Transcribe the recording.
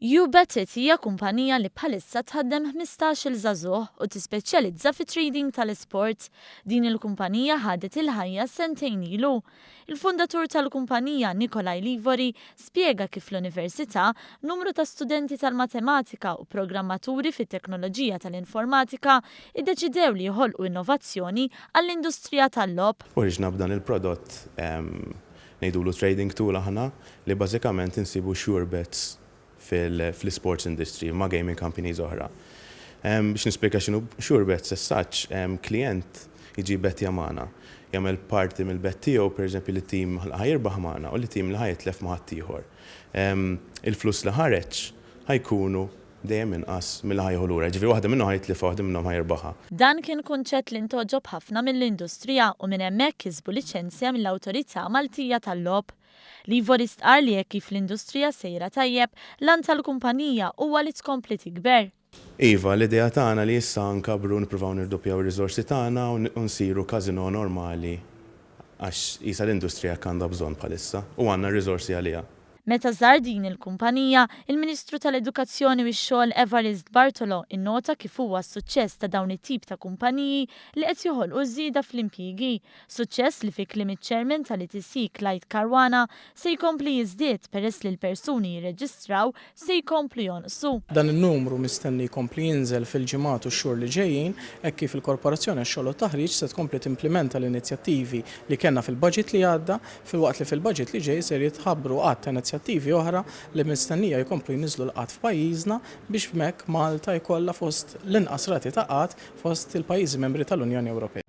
You Bet It hija kumpanija li bħalissa tħaddem ħmistax-il żagħżugħ u tispeċjalizza fit-trading tal-isport. Din il-kumpanija ħadet il-ħajja sentejn ilu. Il-fundatur tal-kumpanija, Nikolai Livori, spjega kif l-Università, numru ta' studenti tal-matematika u programmaturi fit-teknoloġija tal-informatika iddeċidew li joħolqu innovazzjoni għall-industrija tal-logħob. Ħriġna b'dan il-prodott Ngħidulu trading tool aħna li bażikament insibu sure bets fl-isports industry ma' gaming companies oħra. Biex nispjega x'inhu sure bets as such, klijent jiġi jbettja magħna, jagħmel parti mill-bett tiegħu pereżempju li team ħa jirbaħ magħna u li team li ħa jitlef ma' ħaddieħor. Il-flus li ħareġ ħa jkunu dejjem inqas milli ħa jieħu lura, jiġifieri waħda minnhom ħa jitlifha u waħda minnhom ħa jirbaħha. Dan kien kunċett li ntgħoġob ħafna mill-industrija u minn hemmhekk kisbu liċenzja mill-Awtorità Maltija tal-Logħob. Livori stqarr li hekk kif l-industrija sejra tajjeb, l-għan tal-kumpanija huwa li tkompli tikber. Iva, l-idea tagħna li issa nkabbru nippruvaw nirduppjaw ir-riżorsi tagħna u nsiru casino normali għax qisha l-industrija hekk għandha bżonn bħalissa u għandna r-riżorsi għaliha. Meta żar din il-kumpanija, il-Ministru tal-Edukazzjoni u x-Xogħol Evarist Bartolo innota kif huwa s-suċċess ta' dawn it-tip ta' kumpaniji li qed joħolqu żieda fl-impjiegi, suċċess li fi kliem iċ-Chairman tal-ETC Clyde Caruana se jkompli jiżdied peress li l-persuni jirreġistraw se jkomplu jonqsu. Dan in-numru mistenni jkompli jinżel fil-ġimgħat u x-xhur li ġejjin hekk kif il-Korporazzjoni għax-Xogħol u t-Taħriġ se tkompli timplimenta l-inizjattivi li kellna fil-Budget li għadda filwaqt li fil-baġit li ġej ser jitħabbru għadd ta' inizjattivi oħra li mistennija jkomplu jniżżlu l-qgħad f'pajjiżna biex b'hekk Malta jkollha fost l-inqas rati ta' qgħad fost il-pajjiżi membri tal-Unjoni Ewropea.